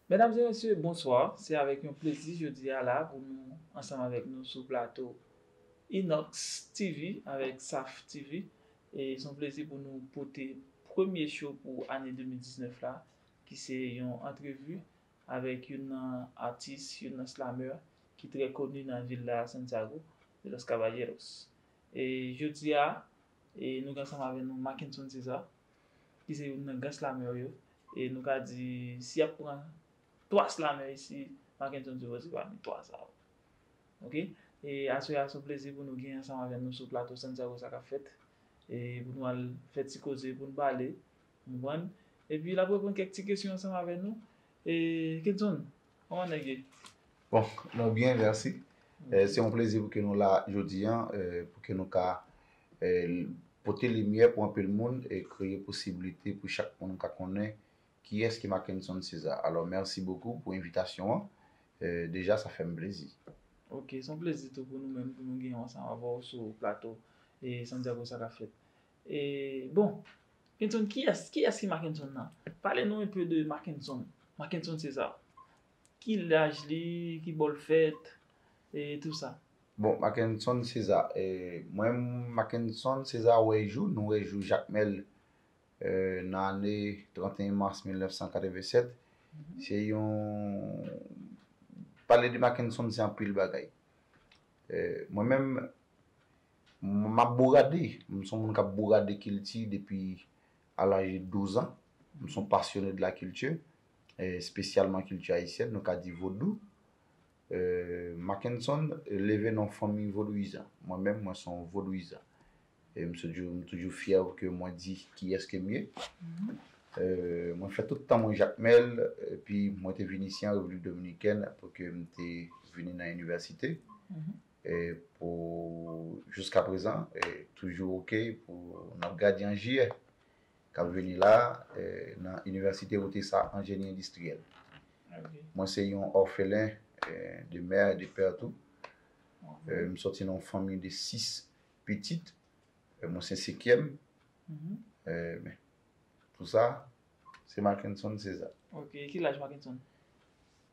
Mesdames et messieurs, bonsoir. Se avèk yon plezi jodi a la pou nou ansanm avèk nou sou plato Inox TV avèk Saf TV. E se yon plezi pou nou pote premye show pou ane 2019 la ki se yon antrevi avèk youn nan atis, youn nan slameur ki trè koni nan vil la Santiago de los Caballeros. E jodi a E nou gen ansanm avè nou Mackenson César, ki se youn nan gran slameur yo. E nou ka di, si y ap pran 3 slameur isi, Mackenson César se pami 3 sa yo. Ok. E aswè a, se yon plezi pou nou gen ansanm avè nou sou plato Santya Rosa k ap fèt. E pou nou al fè ti koze, pou nou pale. Ou konprann? Epi l ap reponn kèk ti kesyon ansanm avè nou. E Kenson, Koman nèg ye? Bon, nou byen, mèsi. Se yon plezi pou ke nou la jodi an, pou ke nou ka pote limyè pou anpil moun e kreye posiblite pou chak moun ka konnen kiyès ki Mackenson Cesar. Alò, mèsi bokou pou envitasyon an. Deja sa fè m plezi. Ok, se yon plezi tou pou nou menm pou nou gen yon ansanm avè w sou plato Santiago Sa Ka Fèt. E bon. Kenson kiyès? Kiyès ki Makenson nan? Pale nou enpe de Makenson. Makenson se sa. Ki laj li? Ki bò l fèt? E tou sa. Bon, Makenson se sa. E mwen m Makenson se sa wè jou. Nou wè jou Jakmèl nan ane 31 mas 1987. Se yon Pale de Makenson se anpil bagay. Mwen menm M ap bourade. M son moun k ap bourade kilti depi a laj de 12 ans. M son pasyonnen de la culture, spesyalman kilti ayisyèn, nou ka di vodou. Mackenson leve nan yon fanmi vodouyizan. Mwen menm, mwen son yon vodouyizan. E m toujou fyè ke mwen di kiyès ke m ye. Mwen fè tout tan mwen Jakmèl, epi mwen te vin isi an Repiblik Dominikèn apre ke m te vini nan inivèsite. pou jouska prezan toujou ok pou nap gade an jiyè kap vini la nan inivèsite wote sa anjeni endistriyèl mwen se yon òfelen de mè e de pè tou m sòti nan yon fanmi de 6 pitit mwen se sekyèm men pou sa se makenson seza ok ki laj makenson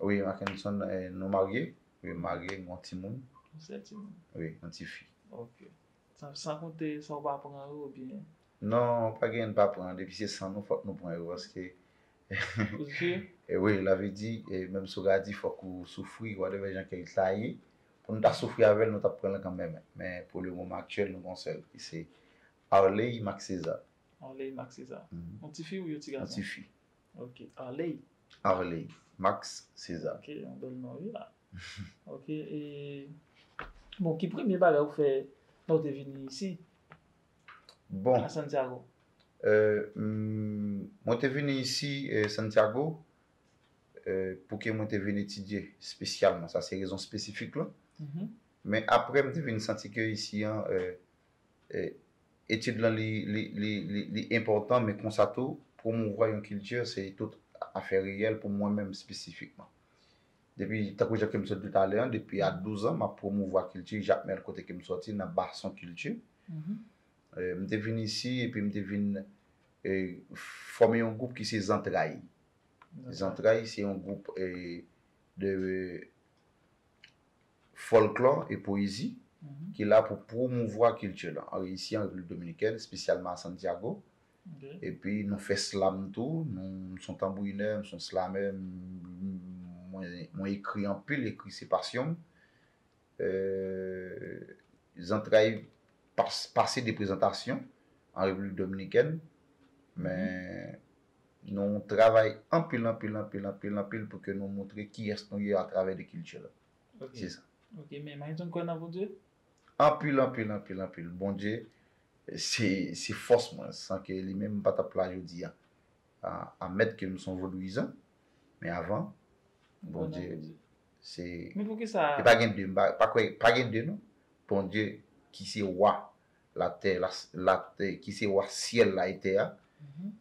Wi Mackenson nou marye. Wi m marye m gen yon timoun. Yon sèl timoun? Wi yon ti fi. Ok. San konte sa w pa pran yo oubyen? Non pa gen m pa pran depi se san nou fòk nou pran yo paske Ou t jwe? Wi lavi di menm si w radi fòk ou soufri whatever jan ke l ta ye pou nou ta soufri avè l nou t ap pran l kanmenm men pou le moman aktyèl nou gen yon sèl ki se Arley Marc César. Arley Marc César. Yon ti fi ou yon ti gason? Yon ti fi. Ok Arley. Arley Max Cesar. Ok yon bèl non wi la. Ok e bon ki premye bagay ou fè lè ou te vini isi a Santiago? Bon mwen te vini isi Santiago pou ke mwen te vin etidye spesyalman sa se rezon espesifik lan. Men aprè mwen te vin santi ke isi an Etid lan li enpòtan men konsa tou pwomouvwa yon kilti se tout afè reyèl pou mwen menm espesifikman. Depi tankou jan ke m sot di talè an depi a 12 an m ap pwomouvwa kilti Jakmèl kote ke m sòti nan Bason kilti. M te vin isi epi m te vin fòme yon gwoup ki se Zantray. Zantray se yon gwoup de Fòlklò e pwezi, ki la pou pwomouvwa kilti lan. An reyisi an Repiblik Dominikèn, espesyalman a Santiago. Epi nou fè slam tou, nou, m s on tanbourinè, m s on slamè, mwen ekri anpil, ekri se pasyon m. Zantray pase de prezantasyon an Repiblik Dominikèn, men. Nou travay anpil anpil anpil anpil anpil pou ke nou moutre kiyès nou ye atravè de kilti la. Se sa. Ok men Mayton kwè nan Bondye? Anpil anpil anpil anpil. Bondye se se fòs mwen. San ke li menm m pa tap la jodi a. Amèt ke m son vodouyizan men avan Bondye se Men poukisa? E pa gen de m pa kwè pa gen de non. Bondye ki se wa Latè, la, la, ki se wa syèl la e tè a,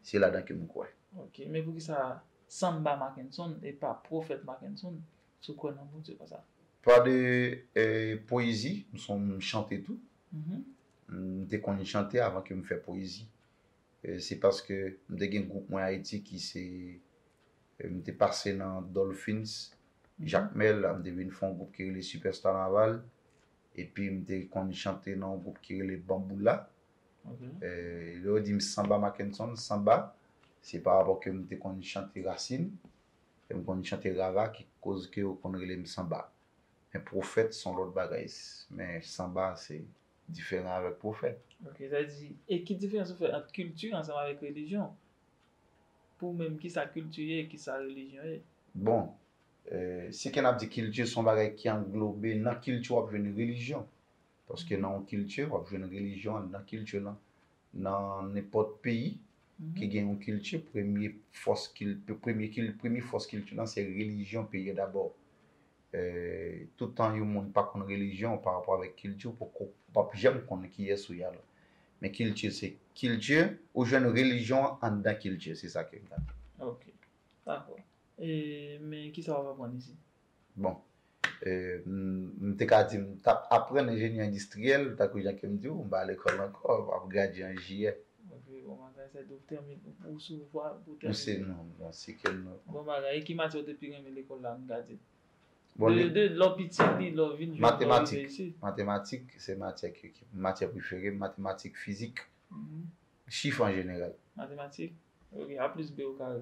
se ladan ke m kwè. Ok, men poukisa Samba Mackenson e pa Pwofèt Mackenson si w kwè nan Bondye konsa? Pa de pwezi, m son m chante tou. M te konn chante avan ke m fè pwezi. Se paske m te gen gwoup mwen Ayiti ki se, m te pase nan Dolphins, Jakmèl, m te vin fè yon gwoup ki rele Super Stanaval, Epi m te konn chante nan yon gwoup ki rele Bamboula. Lè yo di m sanba Mackenson, sanba, se pa rapò ke m te konn chante rasin, e m konn chante rara ki koz ke yo konn rele m sanba. Men pwofèt se yon lòt bagay. Men sanba se diferan avèk pwofèt. Ok, sa vle di, e ki diferans ou fè ant kilti ansanm avèk relijyon? Pou ou menm, kisa kilti ye e kisa relijyon ye? Bon, Se kè n ap di kilti se yon bagay ki anglobe, nan kilti w ap jwenn relijyon. Paske nan yon kilti, w ap jwenn relijyon an nan kilti lan. Nan nenpòt peyi ki gen yon kilti, premye fòs kilti, premye kilti, premye fòs kilti lan se relijyon peyi a dabò. Toutan yon moun pa konn relijyon w parapò avèk kilti w, poko, w p ap janm konn kiyès ou ye alò. Men kilti se kilti, ou jwenn relijyon an anndan kilti, se sa ke m ta di. Ok. Dakò. E, men kisa wap aprann isit? Bon, m te ka di m t ap aprann enjenyè endistriyèl, tankou jan ke m di w, m pa lekòl ankò, m ap gradye an jiyè. Ok, bon bagay, sa vle di w tèmine, ou sou vwa pou w tèmine. Non, m nan sikèl m nan. Bon bagay, e ki matyè ou te pi renmen lekòl la, an nou ka di? De lè w piti, ni lè w vin jwenn, lè w rive isit. Matematik, matematik se matyè ki, matyè prefere m, matematik, fizik, chif an jeneral. Matematik? Ok, a plis b o kare.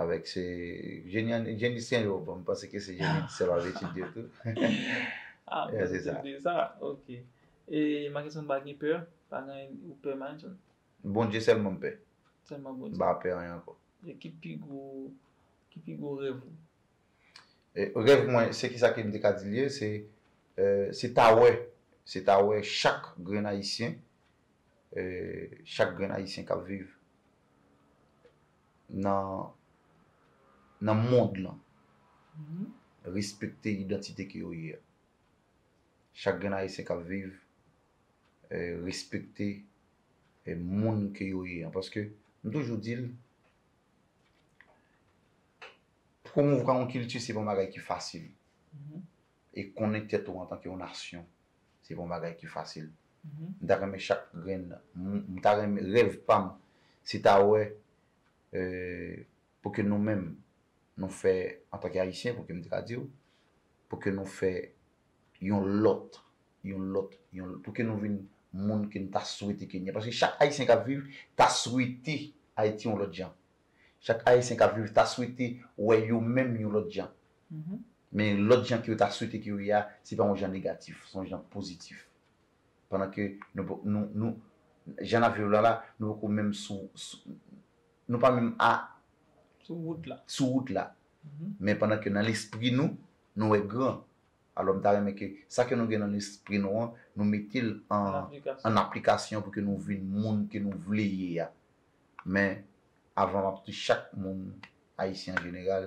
Avèk se jenisyen yo, bon m panse ke se jenisyen wap etidye yo tou. Ah bon se sa. Se sa, ok. E Mackenson pa gen pè? Pa gen anyen ou pè Mackenson? Bondye sèlman m pè. Sèlman Bondye. M pa pè anyen ankò. E ki pi gwo, ki pi gwo rèv ou? Rèv mwen, se kisa ke m te ka di l ye, se, se ta wè, se ta wè chak grenn ayisyen, chak grenn ayisyen kap viv. nan nan mond lan respekte idantite ke yo ye a. Chak grenn ayisyen kap viv respekte moun ke yo ye an paske m toujou di l pwomouvwa yon kilti se pa yon bagay ki fasil. e konnen tèt ou antanke yon nasyon se pa yon bagay ki fasil. M ta renmen chak grenn m ta renmen rèv pa m se ta wè pou ke nou menm nou fè antanke Ayisyen pou ke m te ka di w pou ke nou fè yon lòt yon lòt yon pou ke nou vin moun ke n ta swete ke n ye paske chak Ayisyen k ap viv ta swete Ayiti yon lòt jan chak Ayisyen k ap viv ta swete wè yo menm yon lòt jan Men lòt jan ke yo ta swete ke yo ye a, se pa yon jan negatif, se yon jan pozitif. Pandan ke nou, jan n ap viv la la, nou poko menm sou, nou pa menm a, sou wout la, sou wout la, men pandan ke nan lespri nou, nou wè gran. Alò m ta renmen ke sa ke nou gen nan lespri nou an, nou mete l an aplikasyon pou ke nou vin moun ke nou vle ye a. Men, avan m ap di chak moun, Ayisyen an jeneral,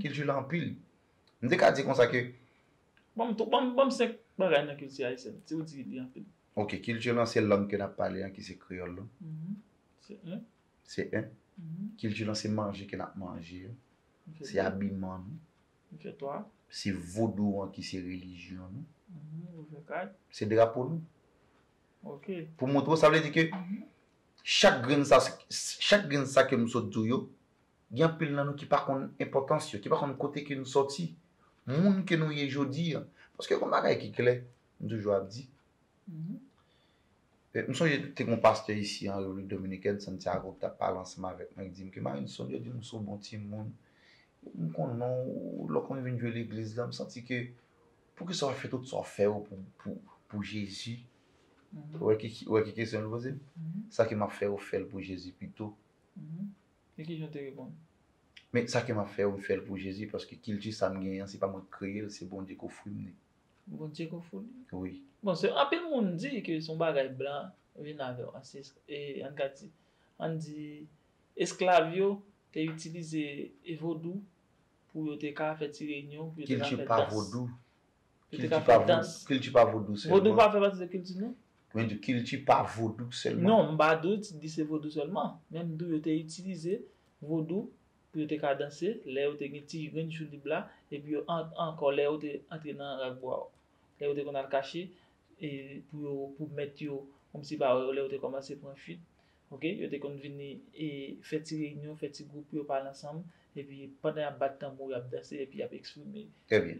kilti lan anpil. M te ka di konsa ke. Ban m 3, ban m 5 bagay nan kilti ayisyèn, si ou di li anpil. Ok, kilti lan se lang ke n ap pale an ki se kreyòl lan. Se 1. Se 1. Kilti lan se manje ke n ap manje an. Se abiman nou. M fè 3. Se vodou an ki se relijyon nou. M fè 4. Se drapo nou. Ok. Pou m montre w, sa vle di ke chak grenn sa, chak grenn sa ke m sot di w yo. Gen anpil nan nou ki pa konn enpòtans yo, ki pa konn kote ke nou sòti, moun ke nou ye jodi an. Paske gen yon bagay ki klè, m toujou ap di, m sonje te gen yon pastè isi an Repiblik Dominikèn, Santiago, ki t ap pale ansanm avèk mwen, li di m ke Marinson, yo di m ou se yon bon timoun, m konnen w, lè w konn vin jwe legliz la, m santi ke poukisa w ap fè tout sa w fè yo pou Jezi? Ou wè ki kesyon li poze m? Sa ke m ap fè yo, fè l pou Jezi pito. E ki jan w te reponn? Men sa ke m ap fè yo, m fè l pou Jezi, paske kilti sa m genyen an, se pa mwen ki kreye l, se Bondye ki ofri m li. Bondye ki ofri w li? Wi. Bon, se anpil moun di ke se yon bagay blan vin avè w. E an n ka di, an n di esklav yo te itilize vodou pou yo te ka fè ti reyinyon, pou yo te ka fè dans. Kilti pa vodou. Yo te ka fè dans. Kilti pa vodou sèlman. Vodou pa fè pati de kilti nou? Mwen di kilti pa vodou sèlman. Non, m pa dou ti di se vodou sèlman. Men m di w yo te itilize vodou pou yo te ka danse lè yo te gen ti grenn jou lib la epi yo ankò lè yo te antre nan rakbwa yo. Lè yo te konn al kache pou mèt yo kòmsi pa wè yo lè yo te kòmanse pran fuit Ok, yo te konn vini e fè ti reyinyon, fè ti gwoup pou yo pale ansanm, epi pandan y ap bat tanbou, y ap danse, epi y ap eksprime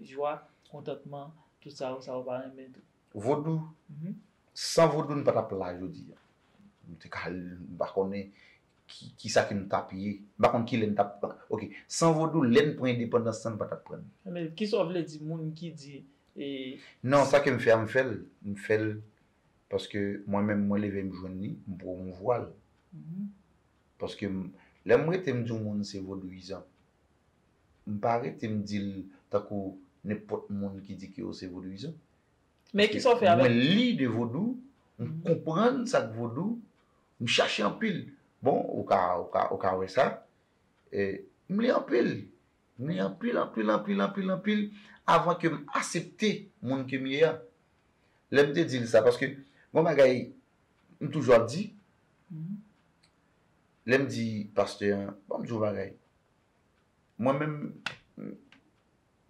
jwa, kontantman, tout sa yo, sa yo pa renmen tou. Vodou, san vodou n pa t ap la jodi a. Nou te ka, m pa konnen ki sa ke nou t ap ye. M pa konnen ki lè n t ap, ok, san vodou, lè n pran endepandans lan, n pa t ap pran l. Men, ki sa w vle di moun ki di e. Non, sa ke m fè a, m fè l, m fè l Paske mwen menm mwen leve m jwenn li, m pwomouvwa l. Paske m, lè m rete m di yon moun se vodouyizan, m pa rete m di l tankou nenpòt moun ki di ke yo se vodouyizan. Men ki sa w fè avè l? Mwen li de vodou, m konprann sa k vodou, m chache anpil. Bon, ou ka, ou ka, ou ka wè sa. E, m li anpil. Mwen anpil anpil anpil anpil anpil avan ke m asepte moun ke m ye a. Lè m te di l sa, paske gon bagay m toujou ap di, lè m di pastè an, bon m di w yon bagay, mwen menm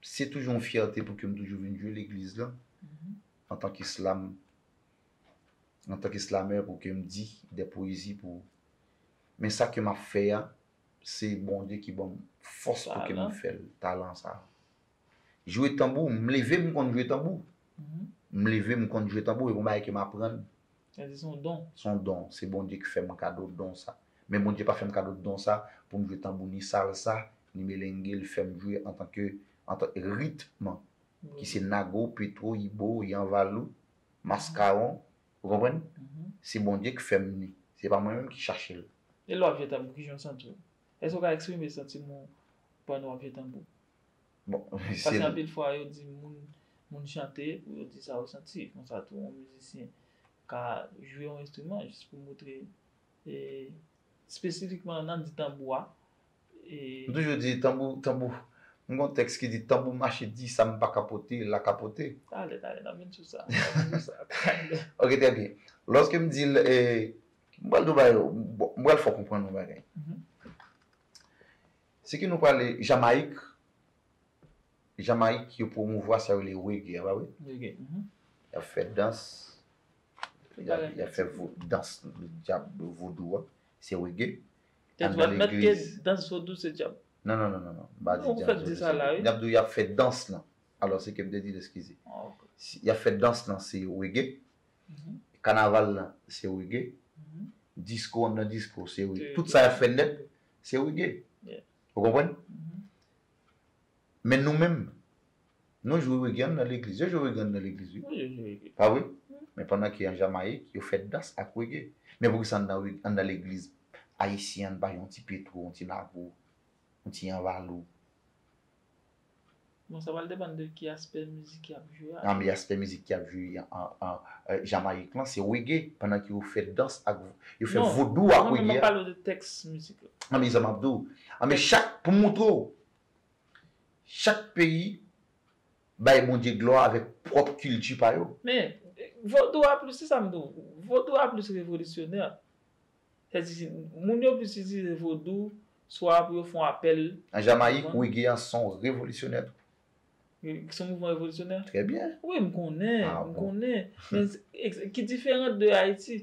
se toujou yon fyète pou ke m toujou vin jwe legliz lan antan ke slam, antan ke slamè pou ke m di dè pwezi pou, men sa ke m ap fè a, Se Bondye ki banm fòs pou kem fèl talan sa. Jwe tanbou, m leve m konn jwe tanbou. M leve m konn jwe tanbou e gon bagay kem aprann. Sa di son don. Son don, se Bondye ki fèm kado don sa. Men Bondye pa fèm kado don sa poum jwe tanbou ni salsa, ni melengue, li fèm jwe antan ke antan ritm ki se nago, petro, ibo, yanvalou, maskaron, Ou konprann? Se Bondye k fè m li. Se pa mwen menm ki chache l. E lè w ap jwe tanbou, ki jan w santi w? Èske w ka eksprime santiman w pandan w ap jwe tanbou? Bon, si. Paske anpil fwa yo di moun, moun chante pou yo di sa yo santi. Konsa tou yon mizisyen ka jwe yon enstriman jis pou montre. Espesifikman nan di tanbou a. M toujou di tanbou, tanbou. M gon tèks ki di tanbou mache di sa m pa kapote, l la kapote. Talè, talè n ap vin sou sa. Ok trè byen. Lòske m di l, m pral di w bagay yo, m pral fè w konprann yon bagay. Se ke nou prale Jamayik, Jamayik yo pwomouvwa sa yo rele rege a, pa vre? Rege. Y ap fè dans, Yap fè dans djab vodou a se reggae. Tèt ou pat mèt ke dans vodou se djab? Non non non non pa di djab vodou se reggae. Yap di w yap fè dans lan. Alò se kem te di l eskize. Yap fè dans lan se reggae. Kanaval lan se reggae. Disko an nan disko se reggae. Tout sa yap fè nèt se reggae. Ou konprann? Men nou menm Nou jwe reggaean nan legliz. Yo jwe reggaean nan legliz wi. Wi yo jwe reggae. Pa vre? Men pandan ke an Jamayik, yo fè dans ak reggae. Men poukisa anndan reg, anndan legliz ayisyen an n pa gen yon ti Petro, yon ti Lago, yon ti Yanvalou? Bon sa pral depann de ki aspè mizik y ap jwe a. Nan men aspè mizik y ap jwe an Jamayik lan se reggae pandan ke yo fè dans ak, yo fè vodou ak reggae a. Non, non men m ap pale w de tèks mizik la. Anben sa m ap di w. Anben chak, pou m montre w, Chak peyi bay Bondye glwa avèk pwòp kilti pa yo. Men, vodou a plis, se sa m di w, vodou a plis revolisyonè. Sa vle di, moun yo plis itilize vodou swa pou yo fè yon apèl. An Jamayik, rege a se yon revolisyonè tou. Se yon mouvman revolisyonè? Trè byen. Wi, m konnen, m konnen. Men, ki diferan de Ayiti?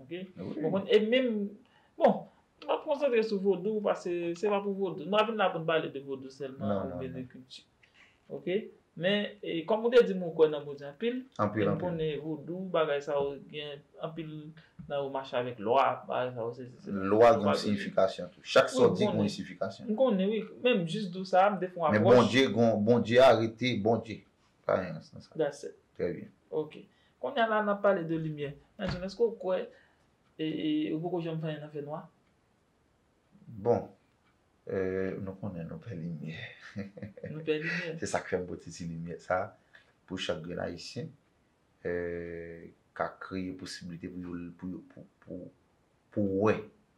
Ok ou konn e menm bon nou ap konsantre sou vodou pase se pa pou vodou nou pa vin la pou nou pale de vodou sèlman oubyen de kilti ok men e kòm ou te di m ou kwè nan Bondye anpil anpil anpil m konnen vodou bagay sa yo gen anpil nan yo mache avèk lwa bagay sa yo sesi sela lwa gen yon siyifikasyon tou chak sa w di gen yon siyifikasyon m konnen wi menm jis dou sa a m te fè yon apwòch men Bondye gen yon Bondye a rete Bondye Pa gen rans nan sa. That's it. Trè byen. Ok. Kounya la n ap pale de limyè. Maestro, èske ou kwè ou poko janm fè anyen nan fènwa? Bon, nou konnen nou pè limyè. Nou pè limyè. Se sa k fè m pote ti limyè sa a pou chak grenn Ayisyen ka kreye posiblite pou yo pou wè,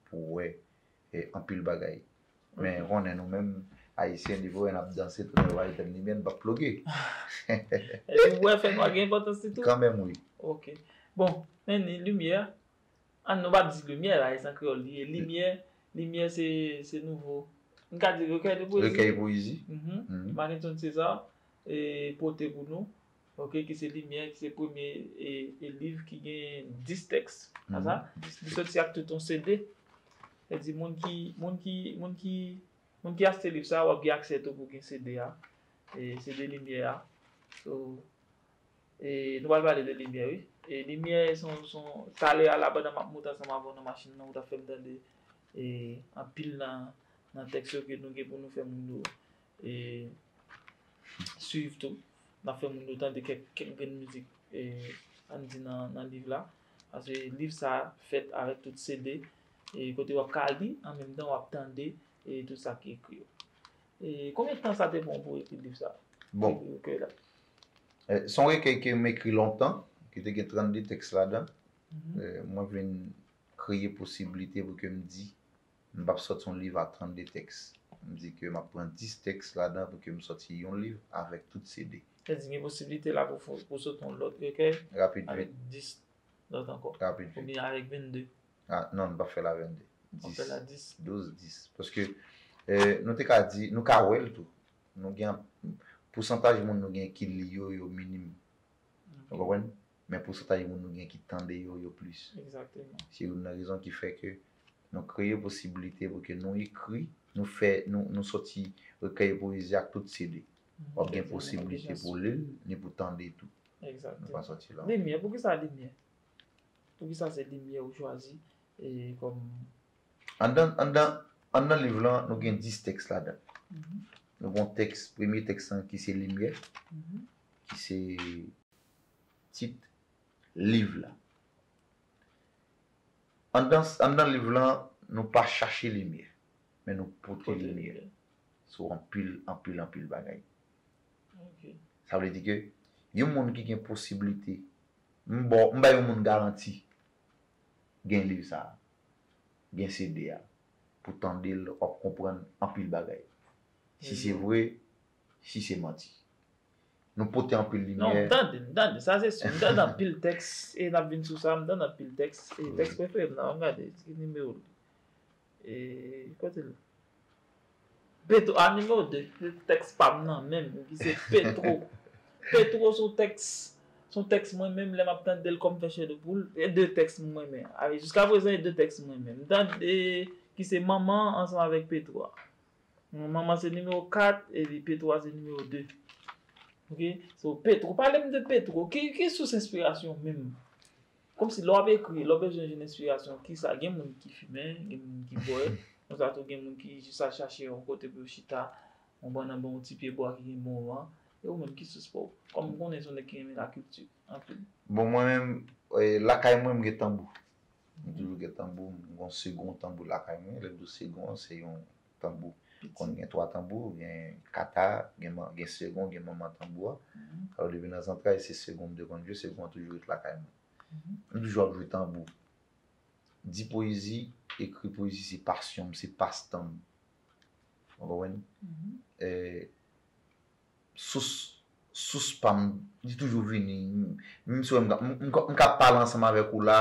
pou wè anpil bagay men konnen nou menm ayisyen depi wè nap danse tounen wè bay tèt limyè nou pap ploge epi wè fè nwa gen enpòtans li tou kanmenm wi ok bon men ni limyè an nou pap di limyè la e san kreyòl li ye limyè limyè se se nouvo m ka di rekèy de pwezi rekèy pwezi Makenson César e pote pou nou Ok ki se limyè ki se premye e liv ki gen 10 tèks nan sa li soti ak tout yon CD sa di moun ki moun ki moun ki moun ki achte liv sa wap gen aksè tou pou gen CD a e CD limyè a so e nou pral pale de limyè wi e limyè son son talè a la pandan map moute ansanm avèw nan machin nan ou tap fèm tande e anpil nan nan tèks yo ke nou gen pou nou fè moun yo E swiv tou. N ap fè moun yo tande kèk grenn mizik ann di nan liv la. Paske liv sa a fèt avèk tout CD e kote w ap ka li an menm tan w ap tande tout sa ki ekri yo. E konbyen tan sa te pran w pou w ekri liv sa a? Bon, se yon rekèy ke m ekri lontan, ki te gen 32 tèks ladan. Mwen vin kreye posiblite pou ke m di M pap sòti yon liv a 32 tèks. M di ke m ap pran 10 tèks ladan pou ke m sòti yon liv avèk tout CD. Sa vle di gen posiblite la pou ou sòti yon lòt rekèy avèk 10 lòt ankò? Rapid vit. Oubyen avèk 22? Non, m pap fè l a 22. W ap fè l a 10? 12, 10. Paske nou te ka di, nou ka wè l tou. Pousantaj moun nou gen ki li yo, yo minim. Ou konprann? men pousantaj moun nou gen ki tande yo yo plis. Egzakteman. Se youn nan rezon ki fè ke nou kreye posibilite pou ke nou ekri, nou fè, nou soti rekèy pwezi ak tout CD. W ap gen posibilite pou w li l, ni pou w tande tou. Egzakteman. Nou pa soti la ankò. Limyè, poukisa limyè? Poukisa se limyè ou chwazi kòm. Anndan, anndan, anndan liv lan, nou gen 10 tèks ladan l. Nou gen yon tèks, premye tèks lan ki se limyè, ki se. tit liv la. Anndan liv lan, nou pa chache limyè, men nou pote limyè sou anpil, anpil, anpil bagay. Sa vle di ke yon moun ki gen posiblite, m ba w, m bay yon moun garanti gen liv sa a, gen CD a, pou w tande l, w ap konprann anpil bagay. Si se vre, si se manti. Nou pote anpil limyè. Non, m tande, m tande, sa se si. M tande anpil tèks e n ap vin sou sa. M tande anpil tèks e tèks prefere m nan, an m gade ki nimewo l ye. E kote l ye? Petro, a nimewo 2. Se tèks pa m nan menm ki se Petro. Petro son tèks, son tèks mwen menm lè m ap tande l kò m fè chè de poul. E de tèks m mwen men. Jiska prezan e de tèks m mwen men. M tande ki se Manman ansanm avèk Petro a. Manman se nimewo 4 epi Petro a se nimewo 2. Ok so Petro pale m de Petro ki sous enspirasyon w menm? Kòm si lè w ap ekri lè w bezwen jwenn enspirasyon kisa gen moun ki fimen gen moun ki bwè konsa tou gen moun ki jis al chache yon kote pou yo chita konprann anba yon ti pye bwa ki gen bon van e ou menm ki sous pa w? Kòm m konnen se yon nèg ki renmen lakilti anpil. Bon mwen menm lakay mwen m gen tanbou M toujou gen tanbou m. M gon segon tanbou lakay mwen. Lè m di w segon an, se yon tanbou. Konn gen twa tanbou, gen kata, gen segon, gen manman tanbou a. Alò depi nan zantray se segon m te konn jwe, segon an toujou ret lakay mwen. M toujou ap jwe tanbou. Di pwezi, ekri pwezi se pasyon m, se pastan m. Ou konprann? sous sous pam li toujou vini menm si wèm mka pale ansanm avèk ou la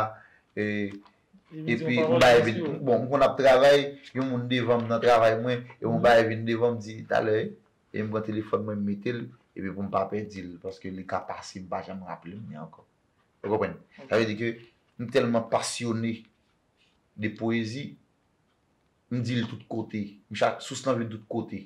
epi yon bagay vin bon mkonn ap travay yon moun devanm nan travay mwen epi yon bagay vin devanm mdi talè epi mpran telefòn mwen mmetel epi poum pa pèdil paske li ka pase mpa janm raplem li ankò ou konprann sa vle di ke mtèlman pasyone de pwezi mdil tout kote mchak sous lan vin tout kote.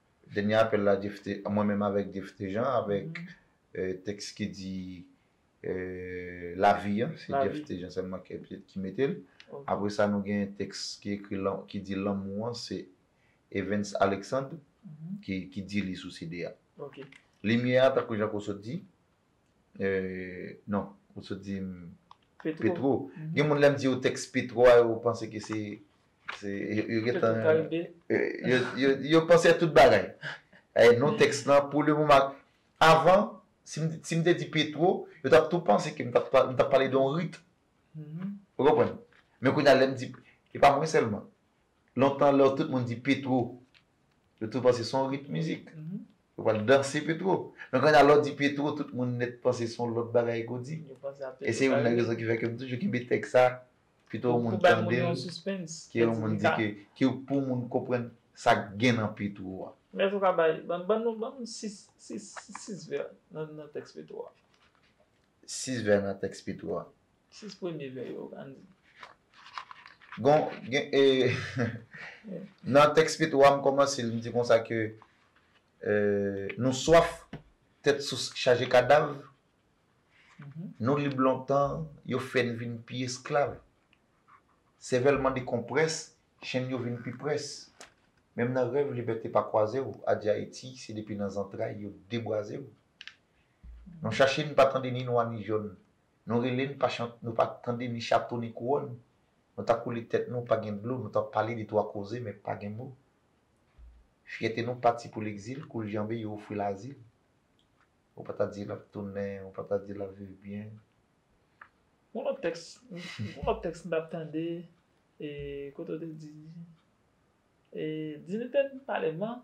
Dènye apèl la Jephte, mwen menm avèk Jephte Jean avèk tèks ki di lavi an, se Jephte Jean sèlman ki mete l. Apre sa nou gen tèks ki ekri ki di lanmou an se Evens Alexandre ki di li sou CD a. Limyè a tankou jan Kosot di, Eeh non ou sot di m Petro. Gen moun lè m di yo tèks Petro a yo panse ke se yo gen tan yo panse a tout bagay. Non tèks lan pou le moman avan si m te di Petro yo t ap tou panse ke m t ap pale de yon rit ou konprann. Men kounye a lè m di e pa mwen sèlman lontan lè tout moun di Petro yo tou panse se yon rit mizik Yo pral danse Petro. Men konnya lè w di Petro tout moun nèt panse son lòt bagay ke w di. Yo panse a Petro. E se youn nan rezon ki fè ke m toujou kenbe tèks sa pito yon moun tande l. Pou bay moun yon suspens. Ke yon moun di ke, ke pou moun konprann sa k gen nan Petro a. Mèt ou ka bay, ban nou, ban nou 6, 6, 6 vè nan tèks Petro a. sis vè nan tèks Petro a. Sis premye vè yo, an n di. Bon, gen e. Nan tèks Petro a, m kòmanse l, m di konsa ke nou swaf tèt sous chaje kadav, nou lib lontan, yo fè n vin pi esklav. Sèvèl mande konprès, chenn yo vin pi près. Menm nan rèv libète pa kwaze w, adye Ayiti, se depi nan zantray yo debwaze w. Nou chache n pa tande ni nwa ni jòn Nou rele n pa chante nou pa tande ni chato ni kouwòn Nou ta koule tèt nou pa gen dlo Nou ta pale de twa koze men pa gen mo Fyète nou pati pou legzil Kou l janbe yo ofri l azil Ou pa ta di l ap tounen Ou pa ta di l ap viv byen Gon lòt tèks Gon lòt tèks m t ap tande e kote w te di e Dinite n pale man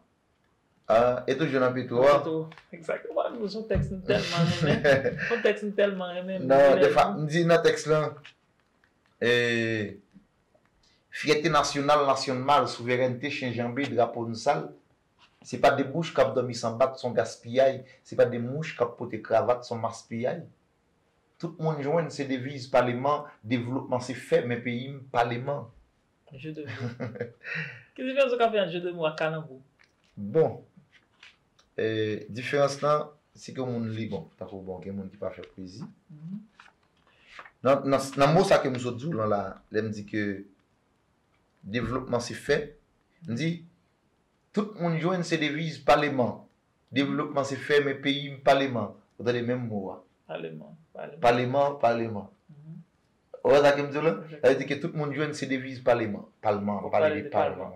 E toujou nan Petro a? Nan Petro, exactement. Ou son tèks m tèlman renmen. Son tèks m tèlman renmen. Nan, defa, m di nan tèks lan, Fyète nasyonal nasyon mal, souverènte chen janbe, drapo n sal, se pa de bouch k ap dòmi san bat, s on gaspiyay, se pa de mouch k ap pote kravat, s on maspiyay. Tout moun jwenn, se deviz paleman, devlopman se fè men peyi m paleman. Jeu de mots. Ki diferans ou ka fè ant jeu de mots ak kalanbou? Bon, diferans lan, si ke moun li bon, tankou bon gen moun ki pa fè pwezi. Nan mo sa ke m sot di w lan la, lè m di ke devlopman se fè, m di, tout moun jwenn se deviz paleman. Devlopman se fè men peyi m paleman. Ou tande menm mo a. Paleman, paleman. Paleman, paleman. Ou wè sa ke m di w la? Sa vle di ke tout moun jwenn se deviz paleman. Palman, pa pale de palman.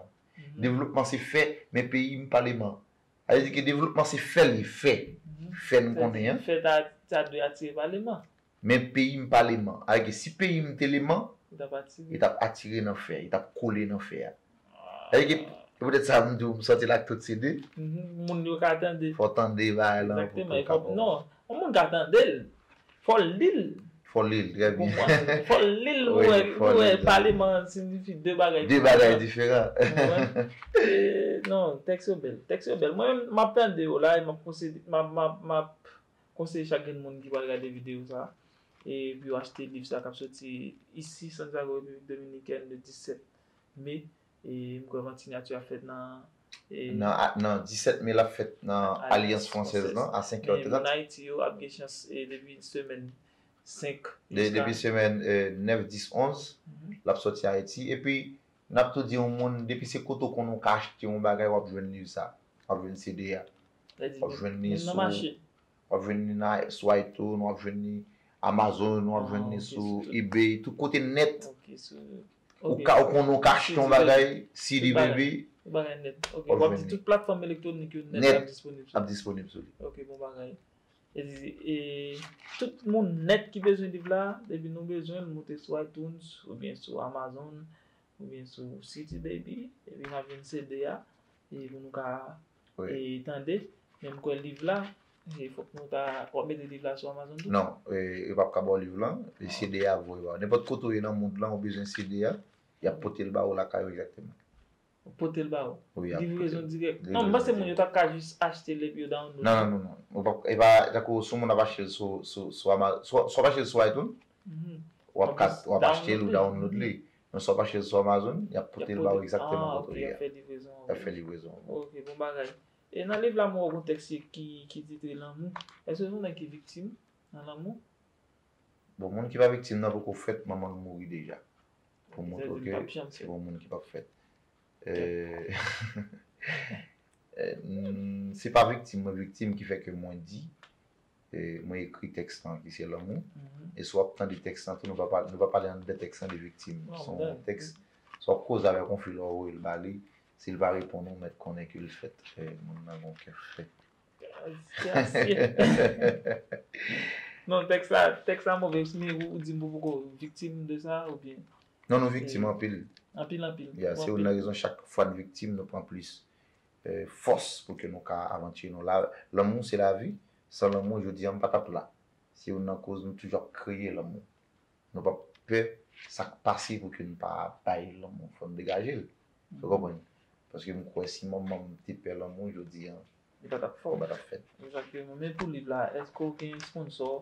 Devlopman se fè, men peyi m paleman. Sa vle di ke devlopman se fè li fè. Fè n konnen an. Fè ta ta dwe atire paleman. Men peyi m paleman. Sa vle di ke si peyi m te leman, li t ap atire nan fè, li t ap kole nan fè a. Sa vle di se poutèt sa m di w m sòti l ak tout CD. Moun yo ka tande. Fò w tande bagay lan. Egzakteman. Non. Yon moun ka tande l. Fò l li l. Fò l li l. Trè byen. Fò l li l. Mwen wè paleman an siyifi de bagay diferan. De bagay diferan. Ou wè? E non. Tèks yo bèl. Tèks yo bèl. Mwen menm m ap tande yo la e m ap konsede m ap m ap m ap konseye chak grenn moun ki pral gade videyo sa e pou yo achte liv sa k ap soti isi Santiago Repiblik Dominikèn le 17. Me, e m kwè vant sinyati ap fèt nan. Nan 17 me l ap fèt nan Alyans Fransèz lan a 5 è 30. Moun Ayiti yo ap gen chans depi semèn 5 jiska. Depi semèn 9, 10, 11 l ap sòti Ayiti. Epi n ap tou di yon moun depi se kote w konnen w ka achte yon bagay w ap jwenn liv sa. W ap jwenn CD a. W ap jwenn li sou. Menm nan mache. W ap jwenn li nan sou iTunes, w ap jwenn li Amazon, w ap jwenn li sou eBay, tout kote nèt. Ou ka ou konnen ou ka achte yon bagay CD baby. Tout bagay nèt. Ok wap di tout platfòm elektwonik yo nèt ap disponib sou li. Ap disponib sou li. Ok bon bagay. E tout moun nèt ki bezwen liv la depi nou bezwen l moute sou iTunes oubyen sou Amazon oubyen sou CD baby epi nap jwenn CD a epi nou ka tande men m kwè liv la e fòk nou ta wap mete liv la sou amazon tou? Non yo pap ka baw liv lan e CD a ap voye baw nenpòt kote ou ye nan mond lan ou bezwen CD a yap potel ba ou lakay ou egzakteman. Yo potel ba ou? Wi yap potel. Livrezon dirèk? Non m panse moun yo tap ka jis achte l epi yo download l. Non non non ou pap ka e pa tankou si yon moun ap achte l sou sou sou amazon si wap achte l sou itunes wap ka wap achte l ou download li Non swa pa chèz swa amazon yap potel baw egzakteman kote ou ye a. Yap fè livrezon an. Ok bon bagay. E nan liv la mwen wè gon tèks ki titre lanmou. Eske son nèg ki viktim nan lanmou? Bon moun ki pa viktim nan poko fèt manmanl mouri deja. Pou moutre ke se yon moun ki pap fèt. Se pa viktim mwen viktim ki fè ke mwen di Mwen ekri tèks lan ki se Lanmou. E si w ap tande tèks lan tou, nou va pale anndan tèks lan de viktim. Se yon tèks, si w ap koze avèk yon fi lè w voye l ba li, si l pa reponn ou, mèt konnen ke l fèt. Moun nan gen yon kè fè. Non, tèks la, tèks la move. Men ou di m pou poko viktim de sa oubyen? Non, nou viktim anpil. Anpil, anpil. Ya, se youn nan rezon chak fwa n viktim, nou pran plis. fòs pou ke nou ka avanture nou la lanmou se lavi san lanmou jodi a m pa tap la se youn nan koz nou toujou ap kreye lanmou nou pap pè sak pase pou ke nou pa bay lanmou fò nou degaje l ou konprann paske m kwè si manman m te pè lanmou jodi a li pa tap fè ou pa tap fèt. Exactement men pou liv la eske w gen sponsor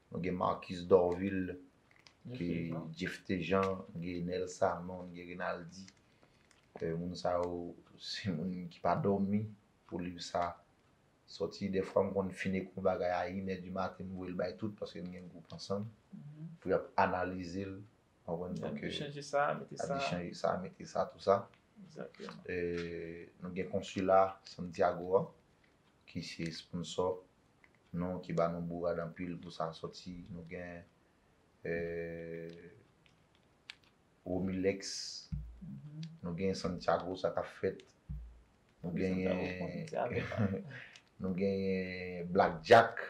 Nou gen Marcus Dorvil, gen Jephté Jean, gen Nel Sanon, gen Renaldy. Moun sa yo se moun ki pa dòmi pou liv sa sòti. Dèfwa m konn fin ekri yon bagay a inè di maten m voye l bay tout paske n gen gwoup ansanm pou y ap analize l. Ap di chanje sa, mete sa, tou sa. Nou gen Konsila Santiago a ki se sponsò. Nou ki ba nou bourad anpil pou sa soti nou gen Romilex nou gen Santiago sa kap fèt nou genyen nou genyen Black Jack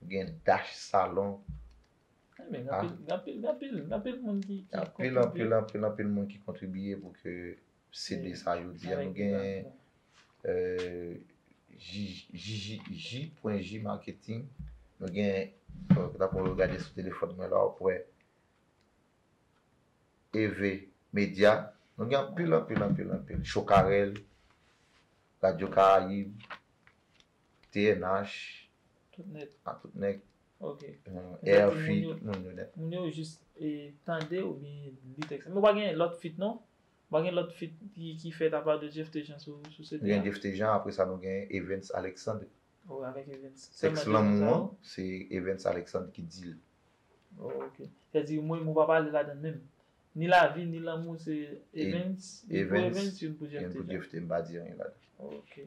nou genyen Dash Salon Gen anpil anpil anpil moun ki kontribiye pou ke CD sa yo di a nou gen JJJ.J marketing nou gen dapre ou gade sou telefòn mwen la wap wè EV media nou gen anpil anpil anpil anpil Chokarel Radio Caraïbe TNH tout nèt a tout nèg ok RF tout moun yo nèt moun yo jis tande ou byen li tèks la men ou pa gen lòt fit non ou pa gen lòt fit ki fèt apa de Jeff Tejan sou CD a nou gen Jeff Tejan apre sa nou gen Evens Alexandre ou avèk Evens tèks lanmou an se Evens Alexandre ki dil ok sè di mwen mwen pa pale ladann menm ni lavi ni lanmou se Evens youn pou Evens youn pou Jeff Tejan youn pou Jeff Tejan m pa di anyen ladann ok.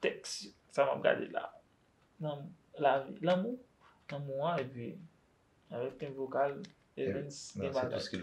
Tèks sa map gade la nan lavi lanmou lanmou an epi avèk tenp vokal Evens gen bagay.